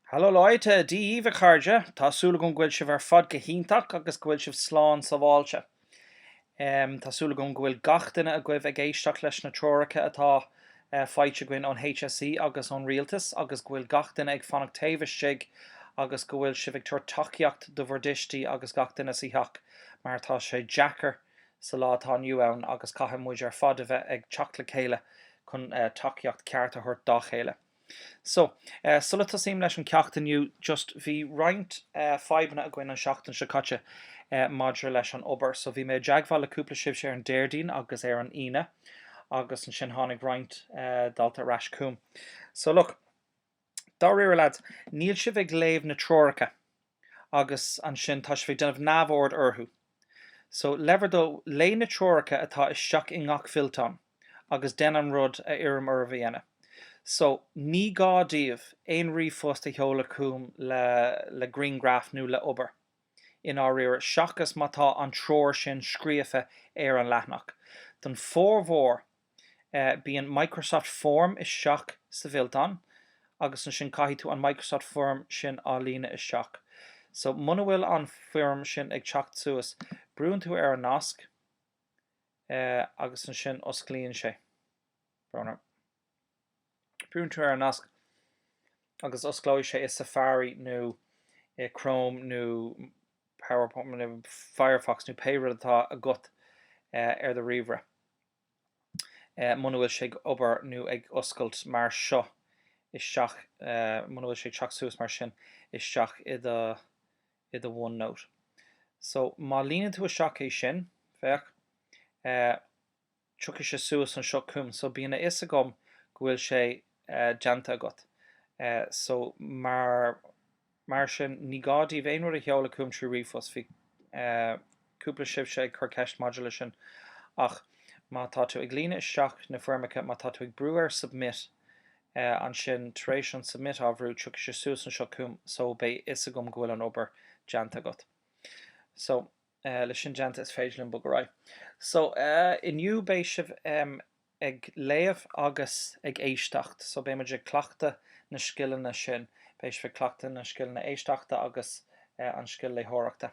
Hallo Leute, Dia daoibh a chairde, tá súil agam go bhfuil sibh ar fad go hiontach agus go bhfuil sibh slán sábháilte. Tá súil agam go bhfuil gach duine agaibh ag éisteacht leis na treoracha atá faighte againn ón HSE agus ón Rialtas agus go bhfuil gach duine ag fanacht taobh istigh agus go bhfuil sibh ag tabhairt tacaíocht do bhur dtuistí agus gach duine sa theach mar tá sé deacair sa lá atá inniu ann agus caithfidh muid ar fad a bheith ag teacht le chéile chun tacaíocht cheart a thabhairt dá chéile. So, sula dtosaím leis an gceacht inniu, just bhí roinnt fadhbanna againn an seachtain seo caite maidir leis an obair. So bhí mé i dteagmháil le cúpla sibhse ar an Déardaoin agus ar an Aoine agus ansin tháinig roinnt daltaí ar ais chugam. So look. Dáiríre lads, níl sibh ag léamh na treoracha agus ansin tá sibh ag déanamh neamhaird orthu. So le bhur dtoil, léigh na treoracha atá isteach i ngach fillteán agus déan an rud a iarraim oraibh a dhéanamh. So ní gá daoibh aon ríomhphost a sheoladh chugam le grianghraf nó le obair i ndáiríre seachas má tá an treoir sin scríofa ar an leathanach. Don formhór bíonn Microsoft Form isteach sa bhfillteán agus ansin caithfidh tú an Microsoft Form sin á líonadh isteach. So muna bhfuil an foirm sin ag teacht suas, brúann tú ar an nasc agus ansin osclaíonn sé. Brúann tú ar an nasc agus osclóidh sé i Safari nó i Chrome nó Firefox nó pé rud atá agat ar do ríomhaire. muna bhfuil sé ag obair nó ag oscailt mar seo isteach muna bhfuil sé ag teacht suas mar sin isteach i do i do OneNote. So má líonann tú isteach é sin, féach, tiocfaidh sé suas anseo chugam. So bíonn a fhios agam go bhfuil sé déanta agat. So mar. Mar sin, ní gá daoibh aon rud a sheoladh chugam trí ríomhphost. Bhí cúpla sibhse ag cur ceist maidir leis sin. Ach má tá tú ag líonadh isteach na foirmeacha, má tá tú ag brú ar 'Submit', ansin tar éis an 'Submit' á bhrú, tiocfaidh sé suas anseo chugam so beidh a fhios agam go bhfuil an obair déanta agat. So. Eh, leis sin déanta is féidir linn bogadh ar aghaidh. So, eh, inniu beidh sibh, em, ag léamh agus ag éisteacht. So beidh muid ag cleachtadh na scileanna sin. Beidh sibh ag cleachtadh na scileanna éisteachta agus, eh, an scil léitheoireachta.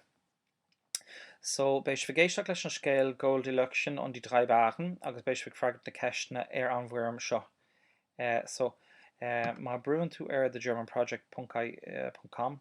So beidh sibh ag éisteacht leis an scéal Goldilöckchen und die drei Bären agus beidh sibh ag freagairt na ceisteanna ar an bhfoirm seo. Eh, so, eh, má brúann tú ar thegermanproject ponc, eh, ponc com,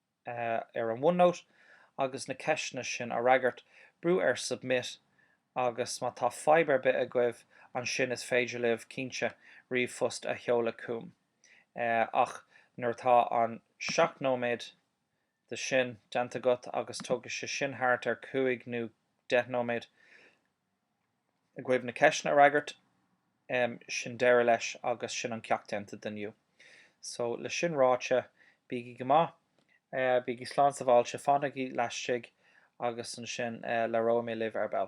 ar an OneNote agus na ceisteanna sin a fhreagairt, brú ar Submit agus má tá fadhb ar bith agaibh ansin is féidir libh, cinnte, ríomhphost a sheoladh chugam. Ach nuair atá an 7 nóiméad de sin déanta agat agus tógfaidh sé sin thart ar 5 nó 10 nóiméad, agaibh na ceisteanna a fhreagairt. Em, sin deireadh leis agus sin an ceacht déanta d'inniu. So, le sin ráite, bígí go maith, eh, bígí slán sabháilte, fanaigí laistigh agus ansin, eh, labhróidh mé libh ar ball.